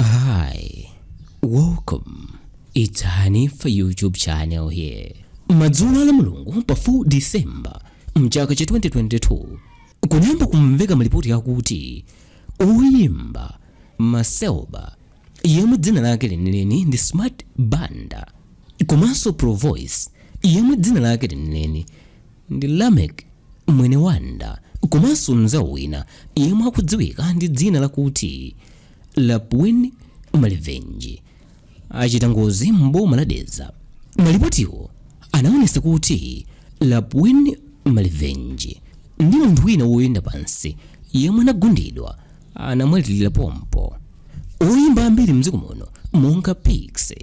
Hi, welcome. It's Hanifa YouTube channel here. Madzulo la Mulungu pa 4 December mchaka cha 2022 kunayamba kumveka malipoti akuti oyimba Macelba yemwe dzina lake lenileni ndi Smart Banda komanso Provoice yemwe dzina lake lenileni ndi Lameck Mwenewanda komanso mnzawo wina yemwe akudziwika ndi dzina lakuti lapwin malivenji achita ngozi m'boma la dedza malipotiwo anaonesa kuti lapwin malivenji ndi munthu wina woyenda pansi yemwe anagundidwa anamwalirira pompo oyimba ambiri mdziko muno monga piksy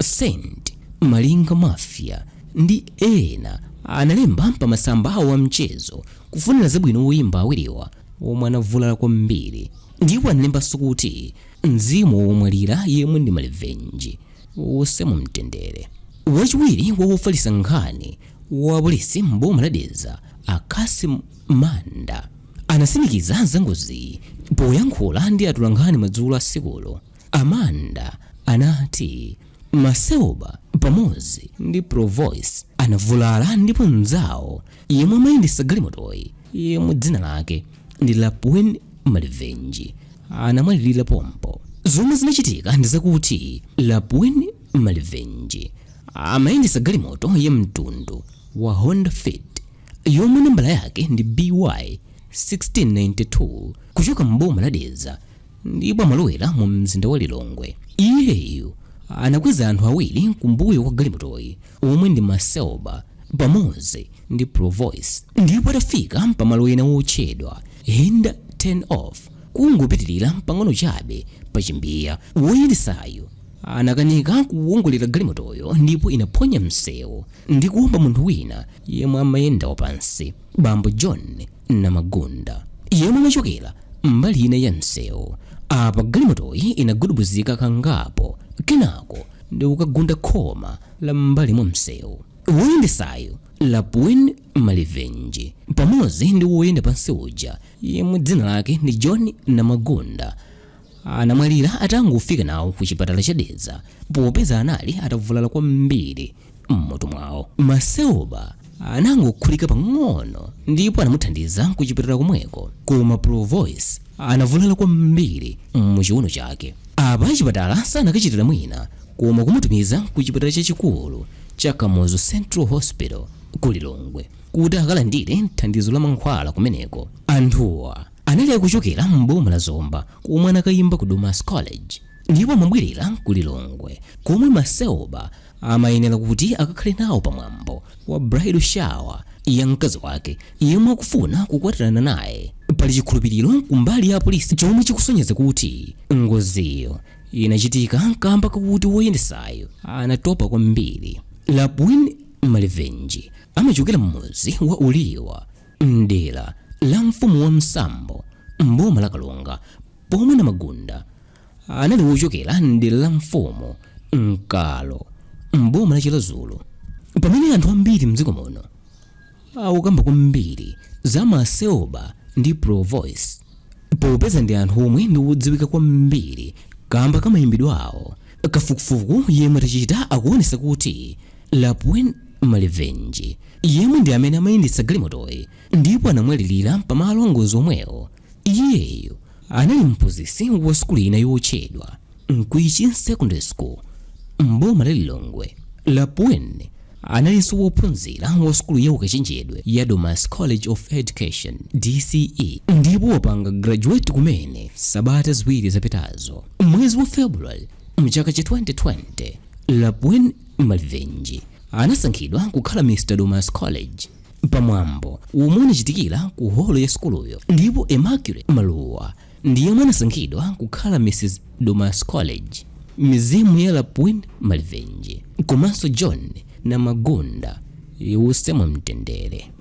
saint malinga mafia ndi ena analemba pa masamba awo a mchezo kufunira zabwino oyimba awiriwa omwe anavulala kwambiri Ndipo analembanso kuti, Mzimu wa womwalira yemwe ndi malivenji uuse mu mtendere. Wachiwiri kwa wofalitsa nkhani wa apolisi m'boma la Dedza, a Cassim Manda, anatsimikiza za ngoziyi. Poyankhula ndi atolankhani madzulo a tsikulo, a Manda anati Macelba pamodzi ndi Provoice anavulala ndipo mnzawo yemwe amayendetsa galimotoyi yemwe dzina lake ndi lapwin malivenji anamwalirira pompo zomwe zinachitika ndi zakuti lapwin malivenji amayendetsa galimoto ya mtundu wa honda fit yomwe nambala yake ndi by 1692 kuchoka m'boma la dedza ndipo amalowera mu mzinda wa Lilongwe. Iyeyu anakweza anthu awiri kumbuyo kwa galimotoyi omwe ndi Macelba pamodzi ndi Provoice ndipo atafika pamalo ena wotchedwa Hinda Turn Off kungopitirira pang'ono chabe pa Chimbiya, woyendetsayo anakanika kuwongolera galimotoyo ndipo inaphonya msewu ndi kuwomba munthu wina yemwe amayenda wapansi, bambo John Namagunda, yemwe amachokera mbali ina ya msewu. Apa galimotoyi inagudubuzika kangapo kenako ndi kukagunda khoma la m'mbali mwa msewu. Woyendetsayu Lapwin Malivenji pamodzi ndi woyenda pansi uja yemwe dzina lake ndi John Namagunda anamwalira atangofika nawo ku chipatala cha Dedza popeza anali atavulala kwambiri. m'mutu mwawo macelba anangokhulika pang'ono ndipo anamuthandiza kuchipatala komweko koma provoice anavulala kwambiri muchiuno chake apa achipatala sanakachitira mwina koma kumutumiza ku chipatala chachikulu cha kamuzu central hospital ku lilongwe kuti akalandire thandizo la mankhwala kumeneko anthuwa anali akuchokera m'boma la zomba komwe anakayimba ku domasi college ndipo amabwerera ku lilongwe komwe macelba amayenera kuti akakhale nawo pa mwambo wa bridal shower ya mkazi wake yemwe akufuna kukwatirana naye pali chikhulupiriro kumbali ya apolisi chomwe chikusonyeza kuti ngoziyo inachitika kamba kakuti woyendesayo anatopa kwambiri lapwin malivenji amachokera m'mudzi wa uliwa mdera la mfumu wasambo mboma la karonga pomwe namagunda anali wochokera m'dera la mfumu nkalo m'boma la chiradzulu pamene anthu ambiri mdziko muno akukamba kwambiri za macelba ndi provoice popeza ndi anthu omwe ndi odziwika kwambiri kamba ka mayimbidwe awo kafukufuku yemwe tachita akuonesa kuti lapwin malivenji yemwe ndi amene amayendetsa galimotoyi ndipo anamwalirira pamalo angozi omwewo Iyeyo anali mphunzitsi wa sukulu ina yotchedwa Mkwichi Secondary School m'boma la Lilongwe. Lapwin analinso wophunzira wa sukulu ya ukachenjede ya Domasi College of Education, DCE, ndipo wapanga graduate kumene sabata ziwiri zapitazo. M'mwezi wa February m'chaka cha 2020, Lapwin Malivenji anasankhidwa kukhala Mr. Domasi College. pa mwambo womwe unachitikira ku holo ya sukuluyo ndipo Immaculate Maluwa ndi yemwe anasankhidwa kukhala Mrs Domasi College mizimu ya Lapwin Malivenji komanso John Namagunda iwuse mu mtendere